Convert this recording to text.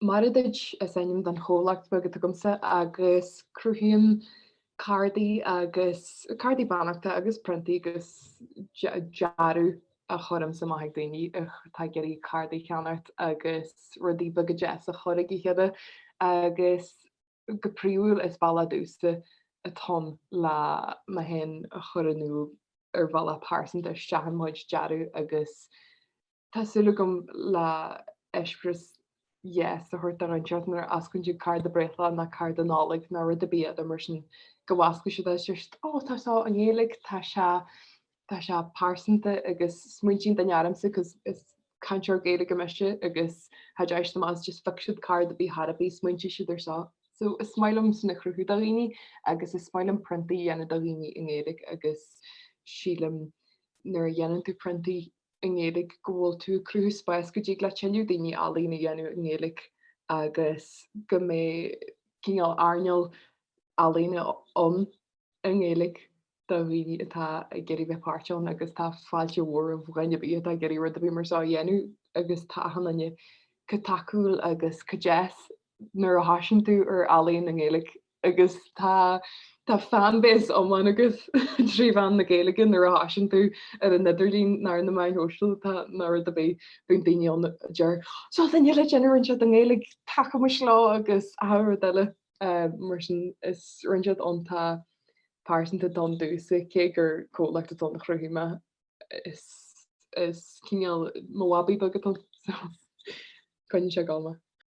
Mar a dúirt, is ainm don chomhlacht beag atá agamsa agus cruthaím cártaí agus cártaí beannachta agus priontaí agus dearadh. Cuirimse maith chuig daoine atá ag iarraidh cártaí a cheannacht agus rudaí beaga deasa a chur chuig a chéile agus go príomhúil is bealach domhsa atá ann le mé fhéin a chur in iúl ar bhealach pearsanta isteach i mo chuid dearadh agus Tá súil agam le eispéireas deas a thabhairt daofa anseo nuair a osclaíonn siad cárta breithlae ná cárta Nollag ná rud ar bith eadar mar sin go bhfosclóidh siad is deir siad oh tá seo i nGaeilge tá sé tá sé pearsanta agus smaoitíonn daoine ormsa cos is cainteoir Gaeilge mise agus tá a fhios acu má fheiceann siad cárta ar bith ar bith smaointeoidh siad ar seo. So is maith liom sin a chruthú do dhaoine agus is maith liom priontaí a dhéanamh do dhaoine i nGaeilge agus sílim nuair a dhéanann tú priontaí i nGaeilge go bhfuil tú ag cruthú spáis go dtig le tuilleadh daoine ealaín a dhéanamh i nGaeilge agus go mbeidh cineál earnáil ealaíne ann i nGaeilge do dhaoine atá ag iarraidh bheith páirteach ann agus tá fáilte mhór roimh dhuine ar bith atá ag iarraidh rud ar bith mar seo a dhéanamh agus tá achan duine chomh tacúil agus chomh deas nuair a thoisíonn tú ar ealaín i nGaeilge. agus tá tá fan base iomlán agat trí mheán na Gaeilge nuair a thoisíonn tú ar an idirlíon nó ar na meáin shóisialta ná rud ar bith bíonn daoine ann a deir seo duine eile ag déanamh rud inteacht i nGaeilg tacaímis leo agus achan rud eile mar sin is rud iontach iontach pearsanta domh domhsa cé gur comhlacht atá ann a chruthaigh mé is is cineál mo bhabaí beag atá ann so coinneoidh sé ag gabháil mé.